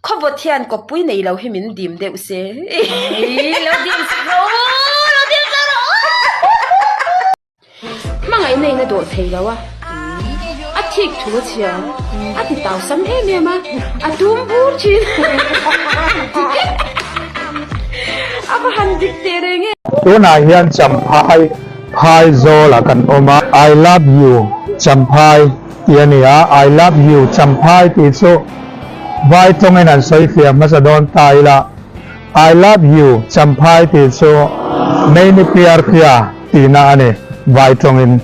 Khawvawt hian kawppui nei lo hi min dim deuh se. Ih, lo dim sak rawh u, lo dim sak rawh u. Hmangaih nei na dawh thei lo a. A thik thu a chhia, a ti tau sam em em a, a tum bur thin. A va han dik teh reng e. Tunah hian Champhai phai zawlah kan awm a. I love you Champhai. Tih a ni a, I love you Champhai tih chu vai tawngin an sawi fiah hmasa dawn ta ila, I love you Champhai tih chu meini piar phia tihna a ni vai tawngin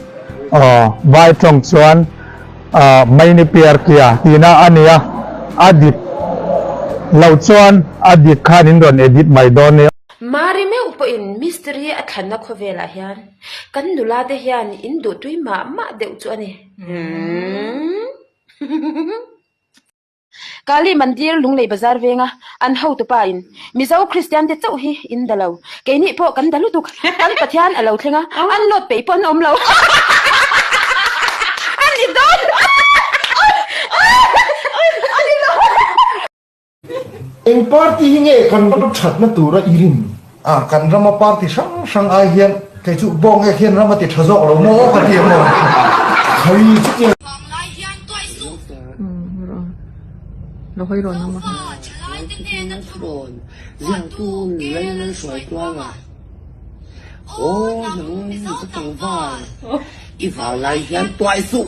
aw vai tawng chuan meini piar phia tihna a nia, a dik lo chuan a dik khan in rawn edit mai dawn nia. Mari meuh pawhin mistiri a thlanna khawvelah hian. Kan nula te hian in duh tui mah mah deuh chu a ni. Kali mandir Lunglei bazar venga an hotu pa in Mizo Kristian te chauh hi in da lo. Kei nih pawh kan da lutuk. Kan Pathian a lo thleng a, an lawt peih pawh an awm lo. An ni dawn. Eng party hi nge kan ram thatna tura i rin? A, kan rama party hrang hrang ai hian kei chu Bawngek hian ram a ti tha zawk lo maw ka ti ang aw. Khawi chu i ram. Hmanglai hian tuai suh. Hmanglai hian tuai suh.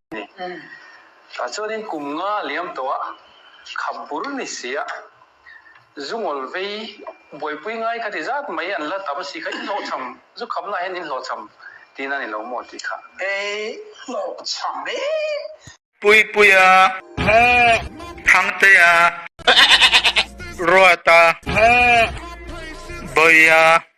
ni. Tah chuanin kum nga liam tawha khap bur ni sia Zungawl vei buaipui ngai ka ti zat mai an la tam si kha in hlawh chham zu khapna ah hian in hlawh chham tiin a ni lo maw tih kha ei hlawh chham e. Puipui a hmu Thangtei a ruat a hmu Bawi a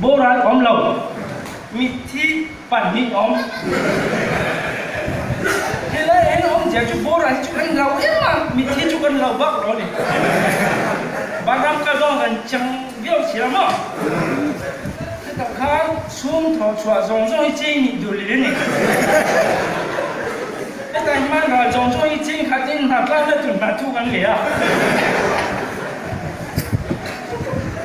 Boral a awm lo. Mitthi pahnih a awm. Helai en a awm zia chu boral chu kan lo em a, mitthi chu kan lo bak lo a ni. Banram kal zawng kan chang viau si lo maw? Chutah khan chhum thaw chhuah zawng zawng hi chei nih dur leh a ni. Hetlai hmanrual zawng zawng hi chei khat in hna tlan na tun hna thu kan leh a.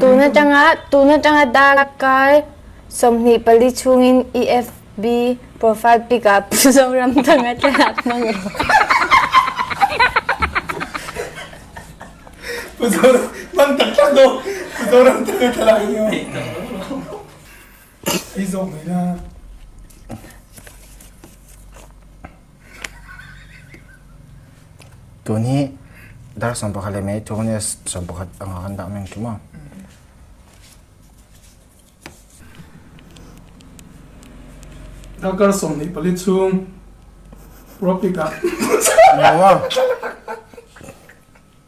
Tun atanga, tun atanga dark kar sawmhnih pali chungin i FB profile pic ah Pu Zoramthanga te a hmang e. Pu Zoramthanga hmang tak tak daw Pu Zoramthanga thlalak hi a awm. Tun hi dark sawm pakhat leh Maitoness sawm pakhat anga kan dah meng trim a. Darker sawm hnih pali chhung Propic ah.